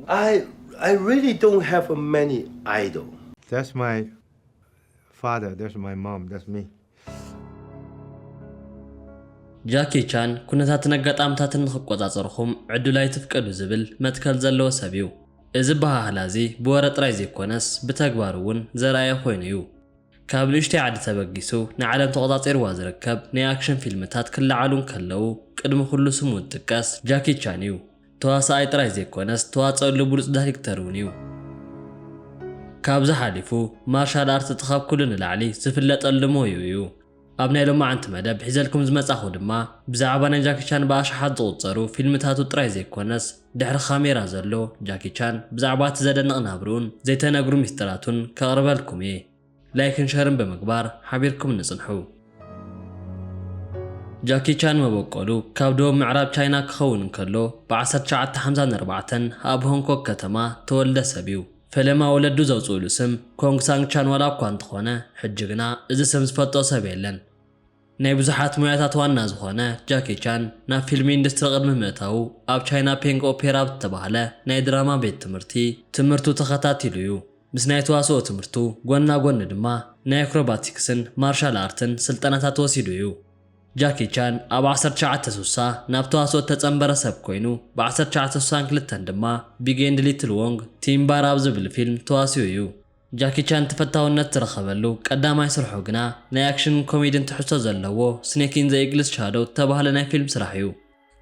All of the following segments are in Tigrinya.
I really don't have many idol. That's my father, that's my mom, that's me. ጃኪ ቻን ኩነታትን ኣጋጣምታትን ንኽቆጻጸርኹም ዕድል ኣይትፍቀዱ ዝብል መትከል ዘለዎ ሰብ እዩ። እዚ ኣበሃህላ እዚ ብወረ ጥራይ ዘይኮነስ ብተግባር እውን ዘርኣየ ኮይኑ እዩ። ካብ ንእሽተይ ዓዲ ተበጊሱ ንዓለም ተቖጻጺርዋ ዝርከብ ናይ ኣክሽን ፊልምታት ክለዓሉ እንከለዉ ቅድሚ ኩሉ ስሙ ዝጥቀስ ጃኪ ቻን እዩ። ተዋሳኣይ ጥራይ ዘይኮነስ ዝተዋጸኣሉ ብሉጽ ዳሪክተር ውን ዩ። ካብዚ ሓሊፉ ማርሻል ኣርት እቲ ካብ ኩሉ ንላዕሊ ዝፍለጠሉ ሞይኡ ዩ። ኣብ ናይ ሎማዓንቲ መደብ ሒዘልኩም ዝመጻኹ ድማ ብዛዕባ ናይ ጃኪ ቻን ብኣሽሓት ዝቑጸሩ ፊልምታቱ ጥራይ ዘይኮነስ ድሕሪ ካሜራ ዘሎ ጃኪ ቻን ብዛዕባ እቲ ዘደንቕ ናብርኡን ዘይተነግሩ ሚስጥራቱን ከቕርበልኩም እየ። ላይክን ሸርን ብምግባር ሓቢርኩም ንጽንሑ። ጃኪ ቻን መበቆሉ ካብ ደቡብ ምዕራብ ቻይና ክኸውን እንከሎ ብዓሰርተ ትሽዓተ ሓምሳን ኣርባዕተን ኣብ ሆንግ ኮግ ከተማ ተወልደ ሰብ እዩ። ፈለማ ወለዱ ዘውጽኡሉ ስም ኮንግ ሳንግ ቻን ዋላ እኳ እንተኾነ ሕጂ ግና እዚ ስም ዝፈልጦ ሰብ የለን። ናይ ብዙሓት ሞያታት ዋና ዝዀነ ጃኪ ቻን፣ ናብ ፊልም ኢንዱስትሪ ቅድሚ ምእታዉ፣ ኣብ ቻይና ፔንግ ኦፔራ ኣብ እተባህለ ናይ ድራማ ቤት ትምህርቲ ትምህርቱ ተኸታቲሉ እዩ። ምስ ናይ ተዋስኦ ትምህርቱ ጐና ጐኒ ድማ ናይ ኣክሮባቲክስን ማርሻል ኣርትን ስልጠናታት ወሲዱ እዩ። ጃኪ ቻን ኣብ ዓሰርተ ትሽዓተ ስሳ ናብ ተዋስኦ እተጸንበረ ሰብ ኰይኑ፣ ብ ዓሰርተ ትሽዓተ ስሳን ክልተን ድማ ቢግ ኤንድ ሊትል ዎንግ፣ ቲም ባር ኣብ ዝብል ፊልም ተዋሲኡ እዩ። ጃኪ ቻን ተፈታውነት ዝረኸበሉ ቀዳማይ ስርሑ ግና ናይ ኣክሽንን ኮሜድን ትሕዝቶ ዘለዎ ስኔክ ኢን ዘ ኢግልስ ሻዶው ዝተባህለ ናይ ፊልም ስራሕ እዩ።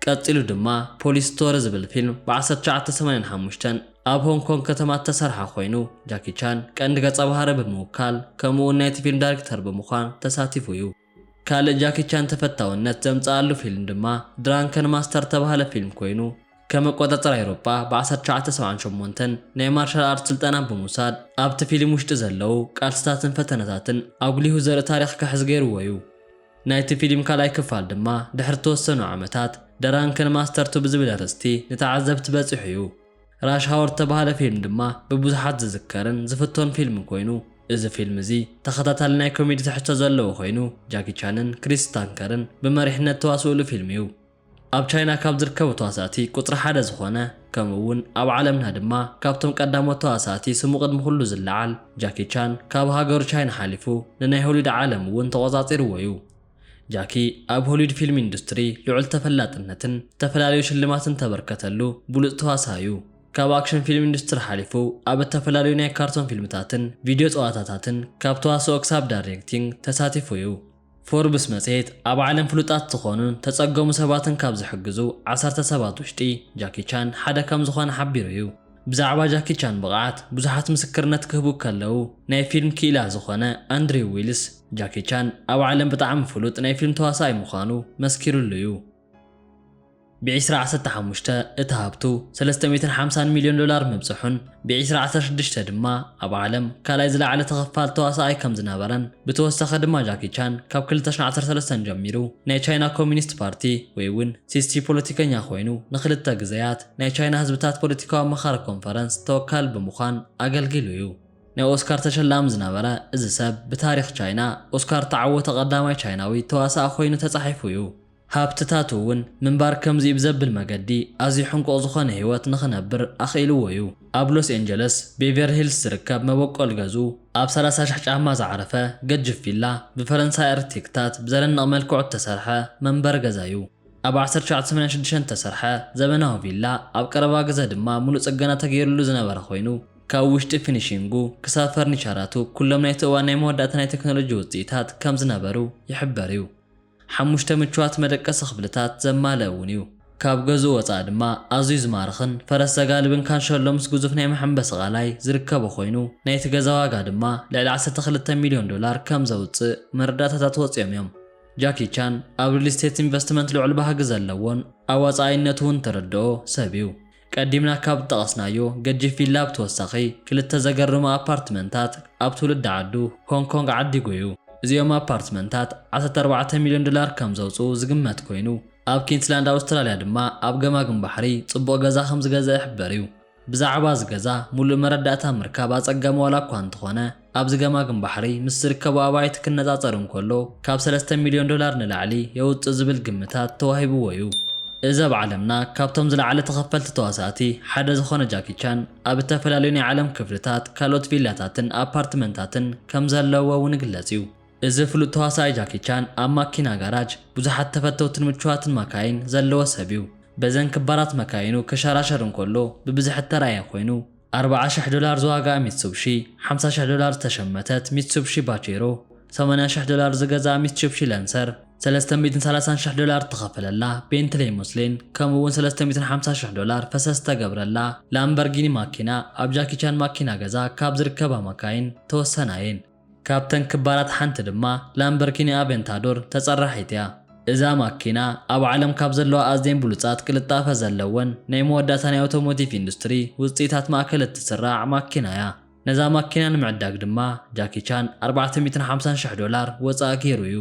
ቀጺሉ ድማ ፖሊስ ስቶሪ ዝብል ፊልም ብ ዓሰርተ ትሽዓተ ሰማንያን ሓሙሽተን ኣብ ሆንግ ኮንግ ከተማ እተሰርሓ ኮይኑ ጃኪ ቻን ቀንዲ ገጸ ባህሪ ብምውካል ከምኡ'ውን ናይቲ ፊልም ዳይሬክተር ብምዃን ተሳቲፉ እዩ። ካልእ ጃኪ ቻን ተፈታውነት ዘምጸኣሉ ፊልም ድማ ድራንከን ማስተር እተባህለ ፊልም ኮይኑ፣ ከም ኣቆጻጽራ ኤውሮጳ ብ ዓሰርተ ትሽዓተ ሰብዓን ሸሞንተን ናይ ማርሻል ኣርት ስልጠና ብምውሳድ ኣብቲ ፊልም ውሽጢ ዘለዉ ቃልስታትን ፈተነታትን ኣጉሊሁ ዘርኢ ታሪኽ ክሕዝ ገይርዎ'ዩ። ናይቲ ፊልም ካልኣይ ክፋል ድማ ድሕሪ እተወሰኑ ዓመታት፣ ደራንከን ማስተር ቱ ብዝብል ኣርእስቲ ንተዓዘብቲ በጺሑ'ዩ። ራሽ ሃወር እተባህለ ፊልም ድማ ብብዙሓት ዝዝከርን ዝፍቶን ፊልም ኮይኑ፣ እዚ ፊልም እዚ ተኸታታሊ ናይ ኮሜዲ ትሕዝቶ ዘለዎ ኮይኑ፣ ጃኪ ቻንን ክሪስ ስታንከርን ብመሪሕነት እተዋስኡሉ ፊልም እዩ። ኣብ ቻይና ካብ ዝርከቡ ተዋሳእቲ ቁጽሪ ሓደ ዝኾነ ከምኡ እውን ኣብ ዓለምና ድማ ካብቶም ቀዳሞት ተዋሳእቲ ስሙ ቅድሚ ኩሉ ዝለዓል ጃኪ ቻን ካብ ሃገሩ ቻይና ሓሊፉ ንናይ ሆሊውድ ዓለም እውን ተቖጻጺርዎ እዩ። ጃኪ ኣብ ሆሊውድ ፊልም ኢንዱስትሪ ልዑል ተፈላጥነትን ዝተፈላለዩ ሽልማትን ተበርከተሉ ብሉጽ ተዋሳእ እዩ። ካብ ኣክሽን ፊልም ኢንዱስትሪ ሓሊፉ ኣብ እተፈላለዩ ናይ ካርቶን ፊልምታትን ቪድዮ ጸዋታታትን ካብ ተዋስኦ ክሳብ ዳሪሬክቲንግ ተሳቲፉ እዩ። ፎርብስ መጽሔት ኣብ ዓለም ፍሉጣት ዝኾኑን ተጸገሙ ሰባትን ካብ ዝሕግዙ ዓሰርተ ሰባት ውሽጢ ጃኪ ቻን ሓደ ከም ዝኾነ ሓቢሩ እዩ። ብዛዕባ ጃኪ ቻን ብቕዓት ብዙሓት ምስክርነት ክህቡ ከለው፣ ናይ ፊልም ክኢላ ዝኾነ ኣንድሪው ዊልስ፣ ጃኪ ቻን ኣብ ዓለም ብጣዕሚ ፍሉጥ ናይ ፊልም ተዋሳኣይ ምዃኑ መስኪሩሉ እዩ። ብዒስራ ዓሰርተ ሓሙሽተ እቲ ሃብቱ ሰለስተ ሚእትን ሓምሳን ሚልዮን ዶላር ምብጽሑን፣ ብዒስራ ዓሰርተ ሽዱሽተ ድማ ኣብ ዓለም ካልኣይ ዝለዓለ ተኸፋሊ ተዋሳኣይ ከም ዝነበረን፣ ብተወሳኺ ድማ ጃኪ ቻን ካብ ክልተ ሽሕን ዓሰርተ ሰለስተን ጀሚሩ ናይ ቻይና ኮሚኒስት ፓርቲ ወይ እውን ሲስቲ ፖለቲከኛ ኮይኑ ንኽልተ ግዘያት ናይ ቻይና ህዝብታት ፖለቲካዊ ኣማኻሪ ኮንፈረንስ ተወካሊ ብምዃን ኣገልጊሉ እዩ። ናይ ኦስካር ተሸላሚ ዝነበረ እዚ ሰብ ብታሪኽ ቻይና ኦስካር እተዓወተ ቀዳማይ ቻይናዊ ተዋሳኢ ኮይኑ ተጻሒፉ እዩ። ሃብትታቱ እውን ምንባር ከምዚ እዩ ብዘብል መገዲ ኣዝዩ ሕንቁቕ ዝኾነ ህይወት ንኽነብር ኣኽኢልዎ እዩ። ኣብ ሎስ ኤንጀለስ ቤቨርሊ ሂልስ ዝርከብ መበቆል ገዝኡ ኣብ ሰላሳ ሽሕ ጫማ ዝዓረፈ ገጅፍ ቪላ ብፈረንሳይ ኣርክቴክታት ብዘደንቕ መልክዑ እተሰርሐ መንበሪ ገዛ እዩ። ኣብ ዓሰርተ ትሽዓተ ሰማንያን ሽዱሽተን እተሰርሐ ዘበናዊ ቪላ፣ ኣብ ቀረባ ግዘ ድማ ሙሉእ ፅገና ተገይሩሉ ዝነበረ ኮይኑ፣ ካብ ውሽጢ ፊኒሺንጉ ክሳብ ፈርኒቸራቱ ኩሎም ናይቲ እዋን ናይ መወዳእታ ናይ ቴክኖሎጂ ውፅኢታት ከምዝነበሩ ይሕበር እዩ። ሓሙሽተ ምቹዋት መደቀሲ ክፍልታት ዘማልእ እውን እዩ። ካብ ገዝኡ ወፃኢ ድማ ኣዝዩ ዝማርኽን ፈረስ ዘጋልብን ካንሸሎ ምስ ግዙፍ ናይ መሐንበሲ ቃላይ ዝርከቦ ኮይኑ፣ ናይቲ ገዛ ዋጋ ድማ ልዕሊ ዓሰርተ ክልተ ሚሊዮን ዶላር ከምዘውፅእ መረዳእታታት ወፂኦም እዮም። ጃኪ ቻን ኣብ ሪል ስቴት ኢንቨስትመንት ልዑል ባህጊ ዘለዎን ኣዋፃኣይነቱ እውን ተረድኦ ሰብ እዩ። ቀዲምና ካብ ዝጠቐስናዮ ገጂፍ ቪላ ብተወሳኺ ክልተ ዘገርሙ ኣፓርትመንታት ኣብ ትውልዲ ዓዱ ሆንግ ኮንግ ዓዲጉ እዩ። እዚኦም ኣፓርትመንታት ዓሰርተ ኣርባዕተ ሚሊዮን ዶላር ከም ዘውፅኡ ዝግመት ኮይኑ፣ ኣብ ኪንስላንድ ኣውስትራሊያ ድማ ኣብ ገማግም ባሕሪ ፅቡቕ ገዛ ከም ዝገዝአ ይሕበር እዩ። ብዛዕባ እዚ ገዛ ሙሉእ መረዳእታ ምርካብ ኣጸጋሚ ዋላ እኳ እንተኾነ፣ ኣብዚ ገማግም ባሕሪ ምስ ዝርከቡ ኣባይቲ ክነጻጸር እንከሎ ካብ ሰለስተ ሚልዮን ዶላር ንላዕሊ የውጽእ ዝብል ግምታት ተዋሂብዎ እዩ። እዚ ኣብ ዓለምና ካብቶም ዝለዓለ ተኸፈልቲ ተዋሳእቲ ሓደ ዝኾነ ጃኪ ቻን ኣብ እተፈላለዩ ናይ ዓለም ክፍልታት ካልኦት ቪላታትን ኣፓርትመንታትን ከም ዘለውዎ እውን ይግለጽ እዩ። እዚ ፍሉጥ ተዋሳኣይ ጃኪ ቻን ኣብ ማኪና ጋራጅ ብዙሓት ተፈተውትን ምቹዋትን ማካይን ዘለዎ ሰብ እዩ። በዘን ክባራት መካይኑ ክሸራሸር እንከሎ ብብዝሒ እተራእየ ኮይኑ፣ ኣርብዓ ሽሕ ዶላር ዝዋግኣ ሚትሱብሺ፣ ሓምሳ ሽሕ ዶላር ዝተሸመተት ሚትሱብሺ ባቼሮ፣ ሰማንያ ሽሕ ዶላር ዝገዝኣ ሚትሱብሺ ለንሰር፣ ሰለስተ ሚእትን ሰላሳን ሽሕ ዶላር እተኸፈለላ ቤንትለይ ሙስሊን ከምኡ'ውን ሰለስተ ሚእትን ሓምሳ ሽሕ ዶላር ፈሰስ ዝተገብረላ ላምበርጊኒ ማኪና ኣብ ጃኪ ቻን ማኪና ገዛ ካብ ዝርከባ ማካይን ተወሰና እየን። ካብተን ክባራት ሓንቲ ድማ ላምበርኪኒ ኣቨንታዶር ተፀራሒት እያ። እዛ ማኪና ኣብ ዓለም ካብ ዘለዋ ኣዝየን ብሉፃት ቅልጣፈ ዘለወን ናይ መወዳእታ ናይ ኣውቶሞቲቭ ኢንዱስትሪ ውፅኢታት ማእከል እትስራዕ ማኪና እያ። ነዛ ማኪና ንምዕዳግ ድማ ጃኪ ቻን ኣርባዕተ ሚእትን ሓምሳን ሽሕ ዶላር ወፃኢ ገይሩ እዩ።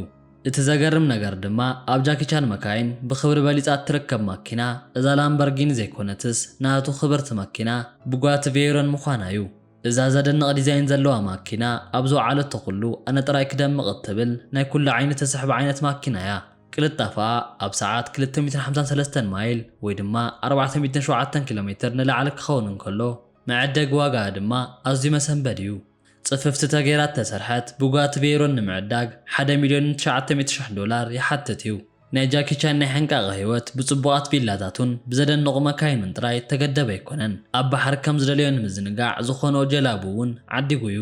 እቲ ዘገርም ነገር ድማ ኣብ ጃኪ ቻን መካይን ብኽብሪ በሊፃ እትርከብ ማኪና እዛ ላምበርጊኒ ዘይኮነትስ ናቱ ክብርቲ መኪና ቡጋቲ ቬይሮን ምዃና እዩ። እዛ ዘደንቕ ዲዛይን ዘለዋ ማኪና ኣብ ዝወዓለቶ ኩሉ ኣነ ጥራይ ክደምቕ እትብል ናይ ኩሉ ዓይኒ ትስሕብ ዓይነት ማኪና እያ። ቅልጣፈኣ ኣብ ሰዓት ክልተ ሚእትን ሓምሳን ሰለስተን ማይል ወይ ድማ ኣርባዕተ ሚእትን ሸውዓተን ኪሎ ሜትር ንላዕሊ ክኸውን እንከሎ፣ መዐደጊ ዋጋኣ ድማ ኣዝዩ መሰንበዲ እዩ። ጽፍፍቲ ተገይራ እተሰርሐት ቡጋቲ ቬይሮን ንምዕዳግ ሓደ ሚልዮንን ትሽዓተ ሚእቲ ሽሕ ዶላር ይሓትት እዩ። ናይ ጃኪ ቻን ናይ ሕንቃቐ ህይወት ብጽቡቓት ቪላታቱን ብዘደንቑ መካይኑን ጥራይ እተገደበ ኣይኰነን። ኣብ ባሕሪ ከም ዝደለዮ ንምዝንጋዕ ዝዀኖ ጀላቡ እውን ዓዲጉ እዩ።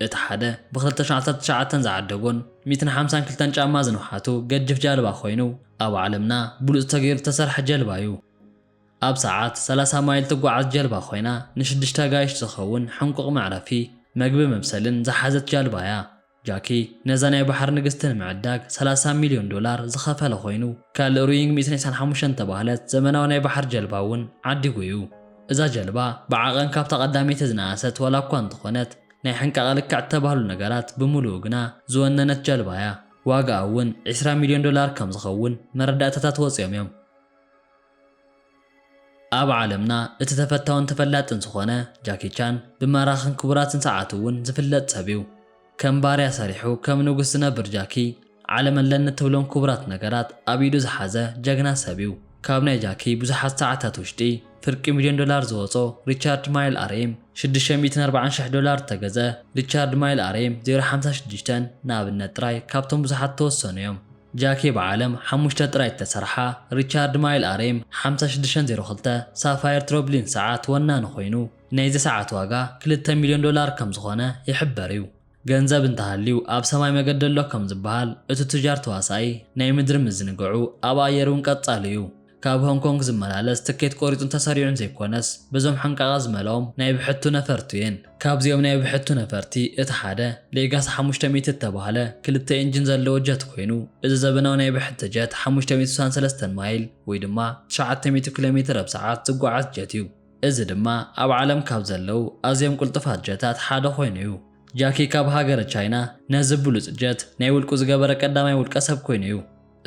እቲ ሓደ ብኽልተ ሽሕ ዓሰርተ ትሽዓተ ዝዓደጎን ሚእትን ሓምሳን ክልተን ጫማ ዝንውሓቱ ገጅፍ ጃልባ ኰይኑ፣ ኣብ ዓለምና ብሉጽ ተገይሩ እተሰርሐ ጀልባ እዩ። ኣብ ሰዓት ሰላሳ ማይል እትጓዓዝ ጀልባ ኰይና፣ ንሽዱሽተ ኣጋይሽ ዝኸውን ሕንቁቕ መዕረፊ፣ መግቢ መብሰልን ዝሓዘት ጃልባ እያ። ጃኪ ነዛ ናይ ባሕሪ ንግስቲ ንምዕዳግ ሰላሳ ሚልዮን ዶላር ዝኸፈለ ኮይኑ፣ ካልእ ሩይንግ ሚእትን ዒስራን ሓሙሽተን እተባህለት ዘመናዊ ናይ ባሕሪ ጀልባ እውን ዓዲጉ እዩ። እዛ ጀልባ ብዓቐን ካብታ ቀዳመይቲ ዝነኣሰት ዋላ እኳ እንተኾነት፣ ናይ ሕንቃቐ ልክዕ እተባህሉ ነገራት ብምሉኡ ግና ዝወነነት ጀልባ እያ። ዋጋኣ እውን ዒስራ ሚልዮን ዶላር ከም ዝኸውን መረዳእታታት ወጺኦም እዮም። ኣብ ዓለምና እቲ ተፈታውን ተፈላጥን ዝኾነ ጃኪ ቻን ብማራኽን ክቡራትን ሰዓቱ እውን ዝፍለጥ ሰብ እዩ። ከም ባርያ ሰሪሑ ከም ንጉስ ዝነብር ጃኪ ዓለም ኣለኒ እትብሎም ክቡራት ነገራት ኣብ ኢዱ ዝሓዘ ጀግና ሰብ እዩ። ካብ ናይ ጃኪ ብዙሓት ሰዓታት ውሽጢ ፍርቂ ሚልዮን ዶላር ዝወጾ ሪቻርድ ማይል ኣርኤም ሽዱሽተ ሚእትን ኣርባዓን ሽሕ ዶላር እተገዘ ሪቻርድ ማይል ኣርኤም ዜሮ ሓምሳ ሽዱሽተ ንኣብነት ጥራይ ካብቶም ብዙሓት እተወሰኑ እዮም። ጃኪ ብዓለም ሓሙሽተ ጥራይ እተሰርሓ ሪቻርድ ማይል ኣሬም ሓምሳ ሽዱሽተ ዜሮ ክልተ ሳፋየር ትሮብሊን ሰዓት ወናኒ ኮይኑ፣ ናይዚ ሰዓት ዋጋ ክልተ ሚልዮን ዶላር ከም ዝኾነ ይሕበር እዩ። ገንዘብ እንተሃልዩ ኣብ ሰማይ መገዲ ኣሎ ከም ዝበሃል፣ እቲ ቱጃር ተዋሳኣይ ናይ ምድሪ ምዝንግዑ ኣብ ኣየር'ውን ቀጻሊ እዩ። ካብ ሆንግ ኮንግ ዝመላለስ ትኬት ቆሪጹን ተሰሪዑን ዘይኮነስ በዞም ሓንቃቓ ዝመልኦም ናይ ብሕቱ ነፈርቱ እየን። ካብዚኦም ናይ ብሕቱ ነፈርቲ እቲ ሓደ ሌጋሲ ሓሙሽተ ሚእቲ እተባህለ ክልተ ኢንጂን ዘለዎ ጀት ኮይኑ እዚ ዘበናዊ ናይ ብሕቲ ጀት ሓሙሽተ ሚእቲ ስሳን ሰለስተን ማይል ወይ ድማ ትሽዓተ ሚእቲ ኪሎ ሜትር ኣብ ሰዓት ዝጓዓዝ ጀት እዩ። እዚ ድማ ኣብ ዓለም ካብ ዘለዉ ኣዝዮም ቅልጡፋት ጀታት ሓደ ኮይኑ እዩ። ጃኪ ካብ ሃገረ ቻይና ነዚ ብሉጽ ጀት ናይ ውልቁ ዝገበረ ቀዳማይ ውልቀ ሰብ ኮይኑ እዩ።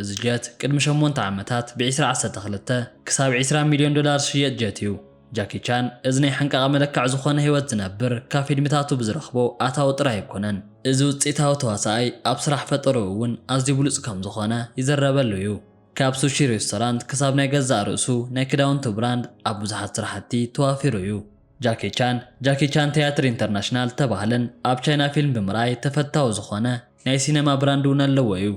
እዚ ጀት ቅድሚ ሸሞንተ ዓመታት ብዒስራ ዓሰርተ ክልተ ክሳብ ዒስራ ሚልዮን ዶላር ዝሽየጥ ጀት እዩ። ጃኪ ቻን እዚ ናይ ሓንቃቐ መለክዕ ዝኾነ ህይወት ዝነብር ካብ ፊልምታቱ ብዝረኽቦ ኣታዊ ጥራይ ኣይኮነን። እዚ ውጽኢታዊ ተዋሳኣይ ኣብ ስራሕ ፈጠርኡ እውን ኣዝዩ ብሉጽ ከም ዝኾነ ይዝረበሉ እዩ። ካብ ሱሺ ሬስቶራንት ክሳብ ናይ ገዛእ ርእሱ ናይ ክዳውንቲ ብራንድ ኣብ ብዙሓት ስራሕቲ ተዋፊሩ እዩ። ጃኪ ቻን ጃኪ ቻን ትያትር ኢንተርናሽናል ዝተባህለን ኣብ ቻይና ፊልም ብምርኣይ ተፈታዊ ዝኾነ ናይ ሲነማ ብራንድ እውን ኣለዎ እዩ።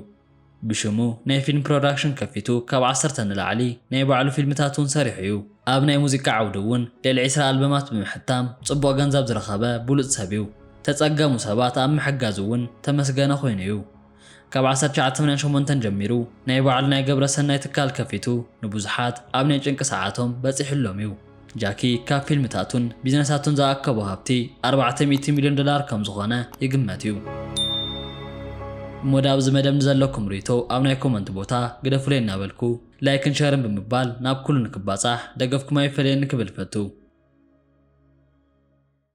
ብሽሙ ናይ ፊልም ፕሮዳክሽን ከፊቱ ካብ ዓሰርተ ንላዕሊ ናይ ባዕሉ ፊልምታት እውን ሰሪሑ እዩ። ኣብ ናይ ሙዚቃ ዓውዲ እውን ልዕሊ ዕስራ ኣልበማት ብምሕታም ፅቡቕ ገንዘብ ዝረኸበ ብሉፅ ሰብ እዩ። ዝተፀገሙ ሰባት ኣብ ምሕጋዝ እውን ተመስገነ ኮይኑ እዩ። ካብ ዓሰርተ ትሽዓተ ሰማንያን ሸሞንተን ጀሚሩ ናይ ባዕሉ ናይ ገብረ ሰናይ ትካል ከፊቱ ንብዙሓት ኣብ ናይ ጭንቂ ሰዓቶም በፂሑሎም እዩ። ጃኪ ካብ ፊልምታቱን ቢዝነሳቱን ዝኣከቦ ሃብቲ ኣርባዕተ ሚእቲ ሚልዮን ዶላር ከም ዝኾነ ይግመት እዩ። እሞ ድኣ ኣብዚ መደብ ንዘለኩም ርኢቶ ኣብ ናይ ኮመንት ቦታ ግደፉለይ እናበልኩ ላይክን ሸርን ብምባል ናብ ኩሉ ንክባጻሕ ደገፍኩም ኣይፈለየኒ ክብል እፈቱ።